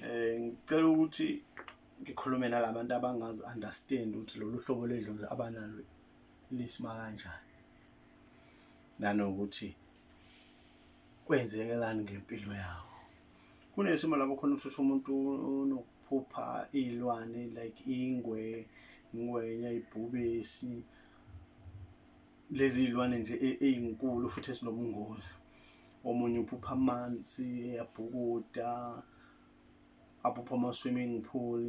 Eh ngicela ukuthi ngikhulume nalabantu abangazi understand ukuthi lolu hlobo ledlozi abanalo lisima kanjani. Nanokuthi kwenzekelani ngempilo yawo. Kunesimo lapho khona uthutha umuntu unokuphupha iy'lwane like ingwe, ingwenya, ibhubesi. lezi iy'lwane nje e-, ey'nkulu futhi ezinobungozi omunye uphupha amanzi eyabhukuda aphupha ama-swimming pool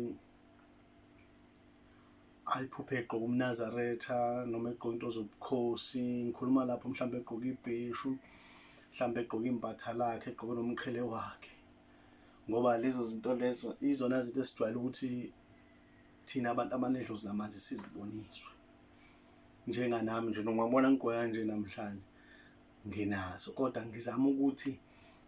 ayiphuphe egqoke umnazaretha noma egqoke into zobukhosi ngikhuluma lapho mhlawumbe egqoke ibheshu mhlawumbe egqoke impatha lakhe egqoke nomqhele wakhe ngoba lezo zinto lezo izona zinto esijwayele ukuthi thina abantu abanedlozi lamanzi siziboniswe njenganami nje nongabona ngigqoka kanje namhlanje nginazo kodwa ngizama ukuthi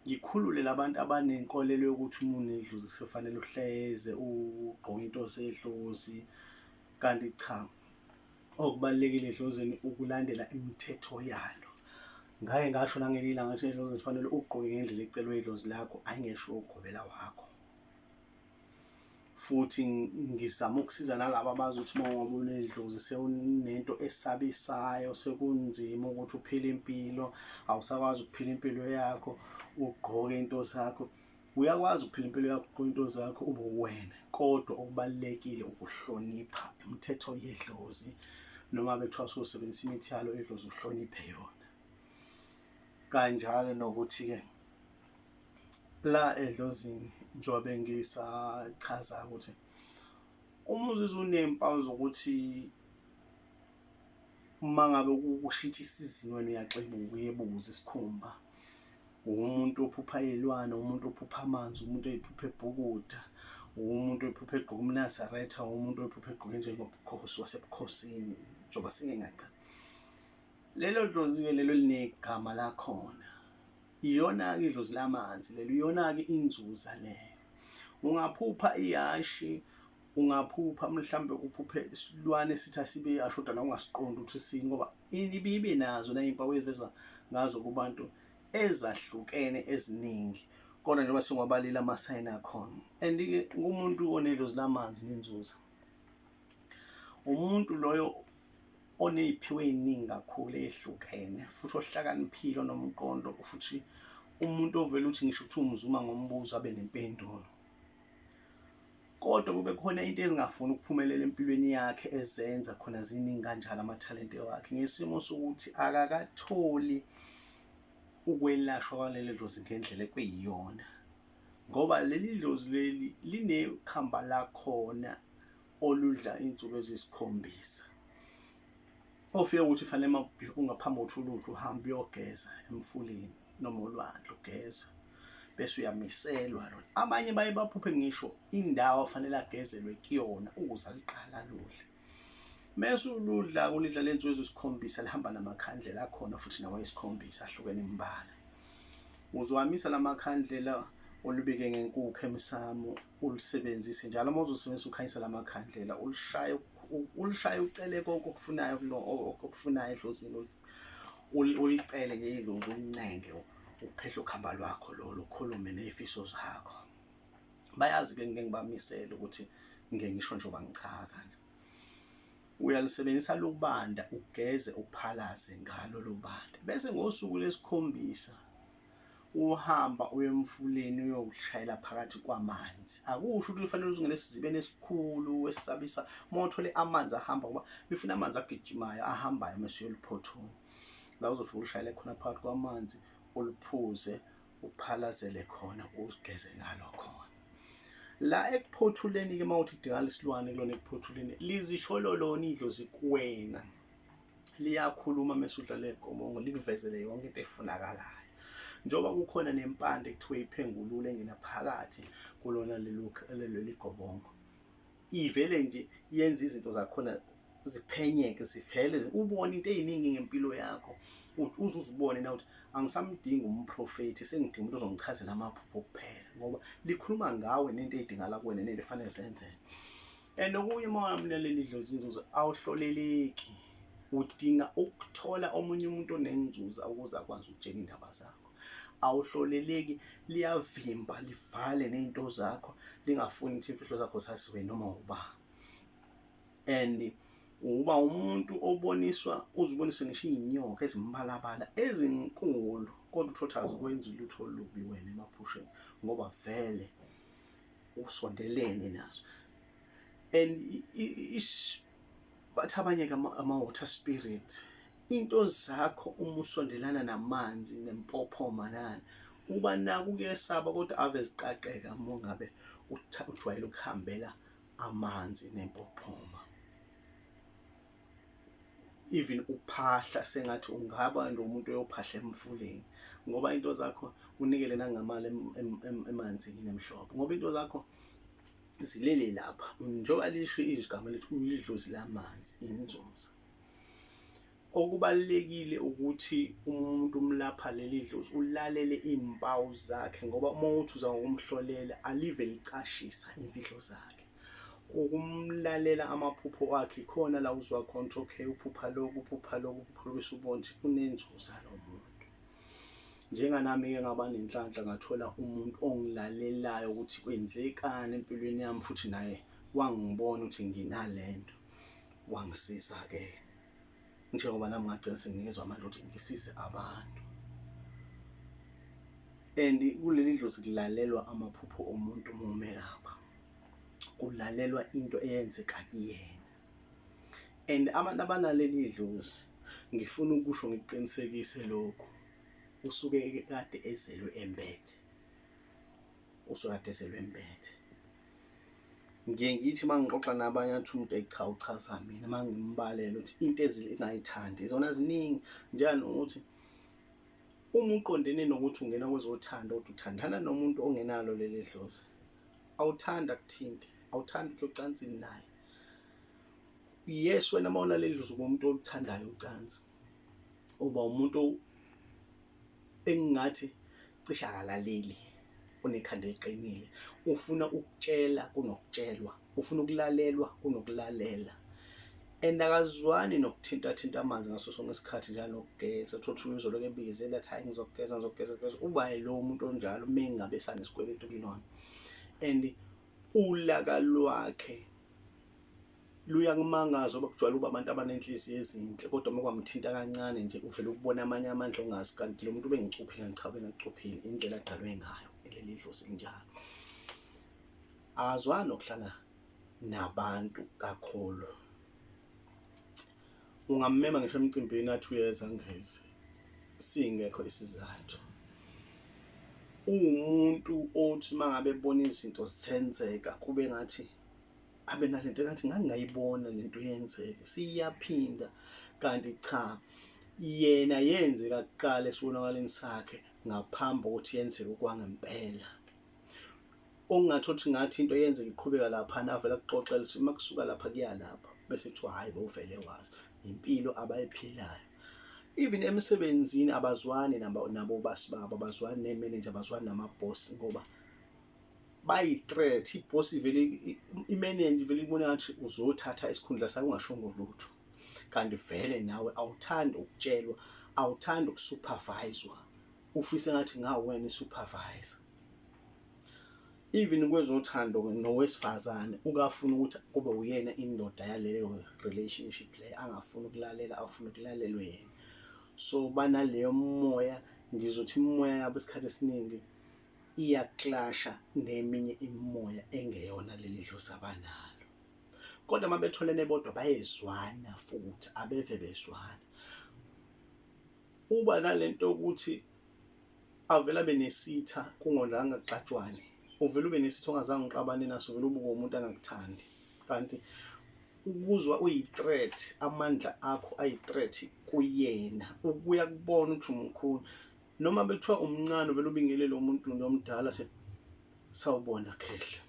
ngikhulule labantu abanenkolelo yokuthi uma unedlozi sekufanele uhleze ugqoke into zedlozi kanti cha okubalulekile edlozini ukulandela imithetho yalo ngake ngasho nangelinye ilanga ukuthi edlozini kufanele ugqoke ngendlela ecelwe idlozi lakho ayingesho ugobela wakho futhi ngizama ukusiza nalabo abazi ukuthi uma ngoba unedlozi sewunento esabisayo sekunzima ukuthi uphile impilo awusakwazi ukuphila impilo yakho ugqoke into zakho uyakwazi ukuphila impilo yakho ugqoke into zakho ube uwena kodwa okubalulekile ukuhlonipha imithetho yedlozi noma bethiwa sosebenzisa imithi yalo edlozi uhloniphe yona kanjalo nokuthi-ke la edlozini njengoba bengisachaza ukuthi uma uzizwa unempawu zokuthi uma ngabe kushitsha isizini wena uyaxebuka uyebuza isikhumba umuntu ophupha ilwane umuntu ophupha amanzi umuntu oyiphupha ebhukuda umuntu oyiphupha egqoka umnazaretha umuntu oyiphupha egqoke njengobukhosi wasebukhosini njengoba singengacani lelo dlozi-ke lelo linegama lakhona iyona-ke idlozi lamanzi lelo iyona-ke inzuza leyo ungaphupha iyashi ungaphupha mhlawumbe uphuphe isilwane sithi asibe yasho kodwa na ungasiqondi ukuthi sini ngoba ibibe nazo nayimpawu eveza ngazo kubantu ezahlukene eziningi kodwa njengoba singobalile amasayini akhona and-ke kumuntu onedlozi lamanzi nenzuza umuntu loyo oney'phiwo ey'ningi kakhulu eyehlukene futhi ohlakaniphile onomqondo futhi umuntu ovele uthi ngisho ukuthi umzuma ngombuzo abe nempendulo kodwa kube khona into ezingafuni ukuphumelela empilweni yakhe ezenza khona ziningi kanjalo amathalente wakhe ngesimo sokuthi akakatholi ukwelashwa kwaleli dlozi ngendlela ekwiyiyona ngoba leli dlozi leli linekhamba lakhona oludla iy'nsuku eziyisikhombisa ofike ukuthi fanele ungaphambi kokuthi uludle uhambe uyogeza emfuleni noma olwandle ugeza bese uyamiselwa lona abanye baye baphuphe ngisho indawo afanele agezelwe kuyona ukuze aliqala ludle mese uludla kulidla le nsuku ezisikhombisa lihamba namakhandlela akhona futhi nawo esikhombisa ahlukene imbala uzwamisa lamakhandlela olubike ngenkukhu emsamo ulisebenzise njalo uma uzosebenzisa ukhanyisa lamakhandlela ulishaye ulishaye ucele konke okufunayo kulo okufunayo edlozini ulicele nje idlozi ulincenge ukuphehla ukhamba lwakho lolu ukhulume nezifiso zakho bayazi ke ngeke ngibamisele ukuthi ngeke ngisho nje bangichaza uyalisebenzisa lubanda ugeze uphalaze ngalo lubanda bese ngosuku lesikhombisa uhamba uye emfuleni uyokushayela phakathi kwamanzi akusho ukuthi kufanele uzingene esizibeni esikhulu esisabisa uma uthole amanzi ahamba ngoba befuna amanzi agijimayo ahambayo uma siyoliphothula la uzofika ushayele khona phakathi kwamanzi uliphuze uphalazele khona ugeze ngalo khona la ekuphothuleni-ke uma uthi kudingala isilwane kulona ekuphothuleni lizishololoni idlozi kuwena liyakhuluma mese udlala igobongo likuvezele yonke into efunakalayo njengoba kukhona nempande kuthiwa iphengulule engena phakathi kulona leli gobongo ivele nje yenza izinto zakhona ziphenyeke zivele ubone into eziningi ngempilo yakho uzuzibone na ukuthi angisamdingi umprofethi sengidinga umuntu ozongichazela amaphupho kuphela ngoba likhuluma ngawe nento edingala kuwena nento efanele zenzeke and okunye uma wamlaleli idlozi inzuzo awuhloleleki udinga ukuthola omunye umuntu onenzuza ukuze akwazi ukutshela indaba zakho awuhloleleki liyavimba livale nento zakho lingafuni ukuthi imfihlo zakho saziwe noma ubani and uba umuntu oboniswa uzibonise ngisho iy'nyoka ezimbalabala ezinkulu kodwa uthotha azikwenzi ulutho olubi wena emaphusheni ngoba vele usondelene nazo and bathi abanye-ke ama-water spirit into zakho uma usondelana namanzi nempophoma nani uba naku kuyesaba kodwa ave ziqaqeka uma ngabe ujwayele ukuhambela amanzi nempophoma even uphahla sengathi ungaba nomuntu oyophahla emfuleni ngoba into zakho unikele nangamali emanzini emhlophe ngoba into zakho zilele lapha njengoba lisho igama lethu ulidlozi lamanzi inzuza Okubalulekile ukuthi uma umuntu umlapha leli dlozi ulalele iy'mpawu zakhe ngoba uma uthi uza ngokumhlolela alive licashisa imfihlo zakhe. Ukumlalela amaphupho wakhe khona la uzwa khona ukuthi okay uphupha lokhu uphupha lokhu uphupha lokhu bese ubona ukuthi unenzuza lo muntu. Njenganami-ke ngaba nenhlanhla ngathola umuntu ongilalelayo ukuthi kwenzekani empilweni yami futhi naye wangibona ukuthi nginale nto. wangisiza ke njengoba nami ngagcina sengikezwa amandla ukuthi ngisize abantu and kuleli dlozi kulalelwa amaphupho omuntu uma umelapha kulalelwa into eyenzeka kuyena and abantu abalaleli idlozi ngifuna ukusho ngiqinisekise lokhu usuke kade ezelwe embethe usukade sebembethe ngiye ngithi uma ngixoxa nabanye athi umuntu eyi cha uchaza mina uma ngimbalele ukuthi into ezingayithandi izona ziningi njani ukuthi uma uqondene nokuthi ungena kwezothanda ukuthi uthandana nomuntu ongenalo leli dlozi awuthandi akuthinte awuthandi kuyocansini naye yes wena uma unaleli dlozi kumuntu oluthandayo ucansi uba umuntu engingathi cisha akalaleli unekhanda eliqinile ufuna ukutshela kunokutshelwa ufuna ukulalelwa kunokulalela and akazwani nokuthinta thinta amanzi ngaso sonke isikhathi njalo nokugeza uthola ukuthi uzolo kebize letha hayi ngizokugeza ngizogeza ngizogeza uba lo muntu onjalo uma engabe sanesikweletu kulona and ulaka lwakhe Luyangimangaza ubaba kujwayele ukuba abantu abanenhliziyo ezinhle kodwa uma kwamthinta kancane nje uvele ukubona amanye amandla ongazi kanti lo muntu ubengicuphile ngichabe ngacuphile indlela adalwe ngayo leli dlozi linjalo akazwani nokuhlala nabantu kakhulu ungammema ngisho emcimbini athi uyeza ngezi singekho isizathu uwumuntu othi mangabe ebona izinto zenzeka kube ngathi abe nalento ngathi ngangingayibona lento yenzeke siyaphinda kanti cha yena yenzeka kuqala esibonakaleni sakhe ngaphambi kokuthi yenzeke kwangempela ongathi othi ngathi into yenzeka iqhubeka lapha navela kuxoxela ukuthi uma kusuka lapha kuya lapha bese kuthiwa hhayi bowuvele wazi impilo abayiphilayo even emsebenzini abazwani nabo basi babo abazwani neemenenja abazwani namabhosi ngoba bayi threat iboss ivele imenenje ivele ibona ngathi uzothatha isikhundla sakho ungashongo lutho kanti vele nawe awuthandi ukutshelwa awuthandi ukusuperviswa ufise ngathi ngawena isupervisor even kwezothando nowesifazane ukafuna ukuthi kube uyena indoda yaleyo relationship le angafuni ukulalela afuna ukulalelwe yena so banaleyo moya ngizothi imoya yabo isikhathi esiningi iyaklasha neminye imimoya engeyona leli dlozi abanalo kodwa uma betholene bodwa bayezwana futhi abeve bezwana uba nalento yokuthi avele abe nesitha kungolanga kuxatshwane uvele ube nesitha ongazange uqabane naso uvele ubuke umuntu angakuthandi kanti ukuzwa uyi-threat amandla akho ayi-threat kuyena ukuya kubona ukuthi umkhulu noma bekuthiwa umncane uvele ubingelele umuntu nje omdala nje sawubona khehla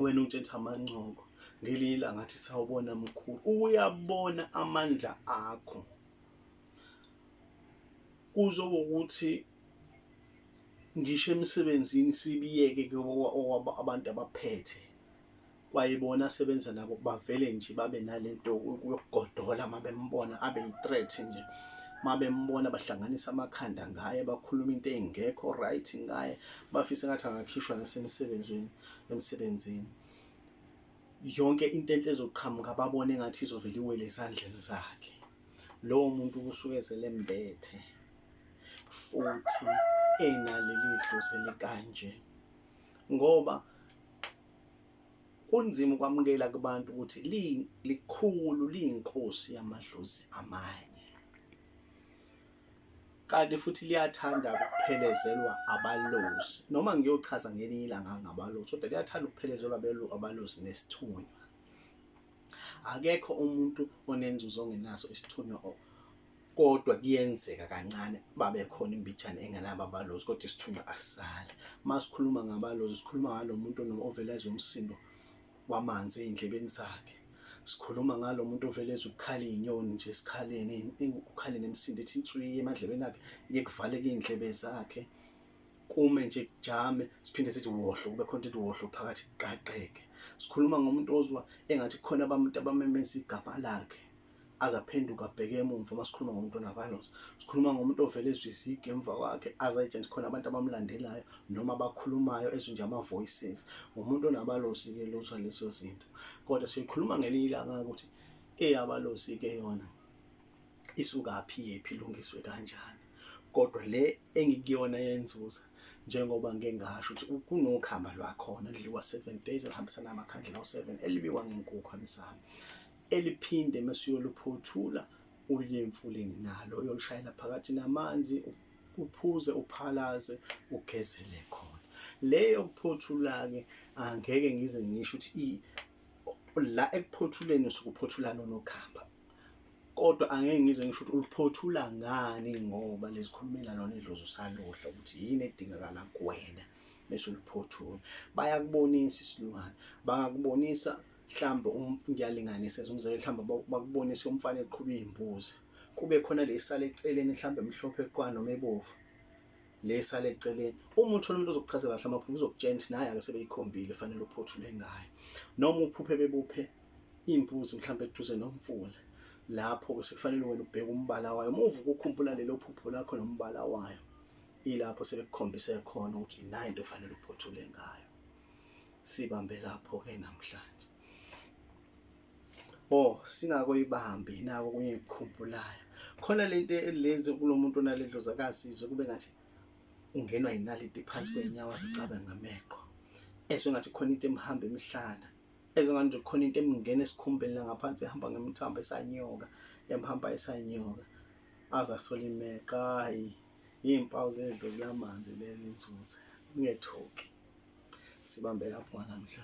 wena ungitshenisa amancoko ngelinye ilanga athi sawubona mkhulu uyabona amandla akho kuzoba ukuthi ngisho emsebenzini sibiyeke abantu abaphethe kwayibona asebenza nabo bavele nje babe nalento yokugodola uma bembona abe yi-threat nje uma bembona bahlanganisa amakhanda ngaye bakhuluma into engekho right ngaye bafise ngathi angakhishwa nasemsebenzini emsebenzini yonke into enhle ezoqhamuka babone ngathi izovela iwele ezandleni zakhe lowo muntu kusuke zelembethe futhi enaleli dlozi likanje ngoba kunzima ukwamukela kubantu ukuthi likhulu liyinkosi yamadlozi amanye kanti futhi liyathanda ukuphelezelwa abalozi noma ngiyochaza ngelinye ilanga ngabalozi kodwa liyathanda ukuphelezelwa abalozi nesithunywa akekho umuntu onenzuzo ongenaso isithunywa kodwa kuyenzeka kancane babe khona imbijana engenabo abalozi kodwa isithunywa asisali uma sikhuluma ngabalozi sikhuluma ngalo muntu ovele ezwe umsindo wamanzi ey'ndlebeni zakhe sikhuluma ngalo muntu ovele ezwe ukukhala iy'nyoni nje esikhaleni ukukhaleni emsindo ethi inswiyi emadlebeni akhe iye kuvaleke iy'ndlebe zakhe kume nje kujame siphinde sithi wohlo kube khona into wohlo phakathi kuqaqeke sikhuluma ngomuntu ozwa engathi khona abantu abamemeza igama lakhe aze aphenduke abheke emumva uma sikhuluma ngomuntu onavalues sikhuluma ngomuntu ovele ezwe izigi emva kwakhe aze ayitshene khona abantu abamlandelayo noma abakhulumayo ezwe nje ama-voices ngumuntu onabalosi-ke lutho lezo zinto kodwa siyoyikhuluma ngelinye ilanga ukuthi eyabalosi-ke yona isukaphi yephi ilungiswe kanjani kodwa le engikuyona yenzuza njengoba ngike ngasho ukuthi kunokhamba lwakhona lidliwa seven days elihambisana amakhandlela awu-seven elibiwa ngenkukhu amisami eliphinde mesuyoluphothula uye emfuleni nalo uyolushayela phakathi namanzi uphuze uphalaze ugezele khona leyo kuphothula-ke angeke ngize ngisho ukuthi la ekuphothuleni sukuphothula lona ukhamba kodwa angeke ngize ngisho ukuthi uluphothula ngani ngoba lizikhulumela lona idlozi usaluhla ukuthi yini edingakala kuwena bese uliphothula bayakubonisa isilwane bangakubonisa mhlawumbe um, ngiyalinganisa umzekelo mhlawumbe bakubonise umfana eqhuba iy'mbuzi kube khona le sale eceleni mhlawumbe mhlophe eqwana noma ebovu le sale eceleni uma uthola umuntu ozokuchazela kahle amaphupho uzokutshela ukuthi naye ake sebeyikhombile fanele uphothule ngayo noma uphuphe bebuphe imbuzi mhlawumbe eduze nomfula lapho sekufanele wena ubheke umbala wayo uma uvuka ukhumbula lelo phupho lakho nombala wayo ilapho sebekukhombise khona ukuthi yina into ofanele uphothule ngayo sibambe lapho ke namhlanje oh singakoyibambi nako kunye ukukhumbulayo khona lento elenze kulomuntu onaledlozi akazizwe kube ngathi ungenwa yinaliti phansi kwenyawo azicabe ngameqo ezwe ngathi khona into emhamba emhlana ezwe ngathi nje khona into emngena esikhumbeni la ngaphansi ehamba ngemthambo esanyoka emhamba esanyoka azasola imeqa hayi Iy'mpawu zento kulamanzi leli nzuze ungethuki sibambe lapho namhlanje.